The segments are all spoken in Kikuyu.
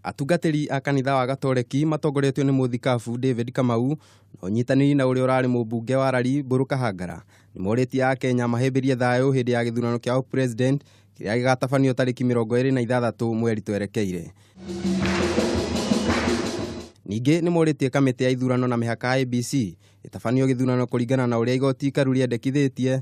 Atungatĩri a kanitha wa Gatoreki matongoretio nĩ mũthikabu David Kamau na ũnyitanĩri na ũrĩa ũrarĩ mũmbunge wa Rari Mbũrũ Kahangara nĩ morĩtie a Kenya mahĩmbĩrie thayũ hĩndĩ ya gĩthurano kĩa ũpresident kĩrĩa gĩgatabanio tarĩki mĩrongo ĩrĩ na ithathatũ mweri twerekeire. Ningĩ nĩ morĩtie kamĩtĩ ya ithurano na mĩhaka IBC ĩtabanio gĩthurano kũringana na ũrĩa igoti ikaru rĩendekithĩtie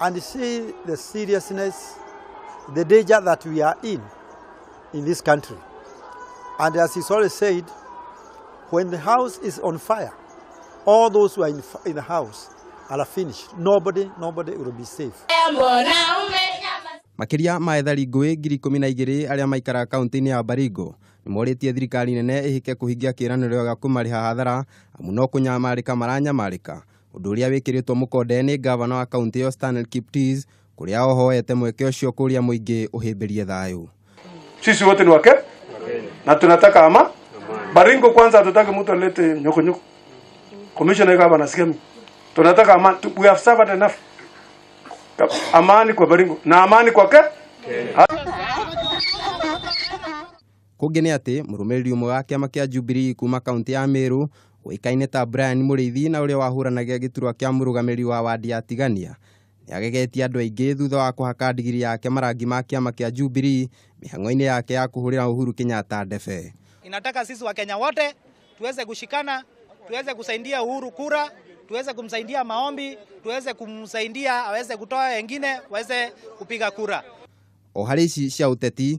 and see the seriousness, the danger that we are in in this country. And as he's always said, when the house is on fire, all those who are in, in the house are finished. Nobody, nobody will be safe. Makĩria ma ethari ngũĩ ngiri ikũmi na igĩrĩ arĩa maikaraga kaunti-inĩ ya Baringo nĩ morĩtie thirikari nene ĩhĩke kũhingia kĩĩranĩro gĩa kũmarĩha hathara amu no kũnyamarĩka maranyamarĩka ũndũ ũrĩa wĩkĩrĩtwo mũkonde nĩ ngavana wa kaunti ĩyo Stanley Kiptis kũrĩa ohoete mweke ũcio kũrĩa mũingĩ ũhĩmbĩrie thayũ sisi wote ni wake na tunataka ama baringo kwanza hatutaki mtu alete nyokonyoko commissioner kama anasikia mimi tunataka amani Tu- we have suffered enough amani kwa baringo na amani kwa ke Kũngĩ nĩ atĩ mũrũmĩrĩri ũmwe wa kĩama kĩa Jubilee kuuma kaũntĩ ya Mĩrũ ũĩkaine ta Brian Mũrĩithi na ũrĩa wahũranagia gĩturwa kĩa mũrũgamĩrĩri wa wandi ya Tigania nĩ agegetie andũ aingĩ thutha wa kũhaka ndigiri yake marangi ma kĩama kĩa Jubilee mĩhang'o-inĩ yake ya kũhũrĩra Uhuru Kenyatta ndebe. Inataka sisi Wakenya wote tuweze kushikana, tuweze kusaidia Uhuru kura, tuweze kumsaidia maombi, tuweze kumsaidia aweze kutoa wengine waweze kupiga kura. O harĩ ici cia ũteti,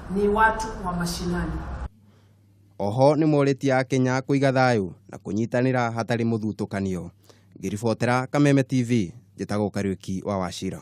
ni watu wa mashinani. Oho nĩmorĩtie Akenya kũiga thayũ na kũnyitanĩra hatarĩ mũthutũkanio. Ngĩribotera Kameme TV, njĩtagwo Kariuki wa Wachira.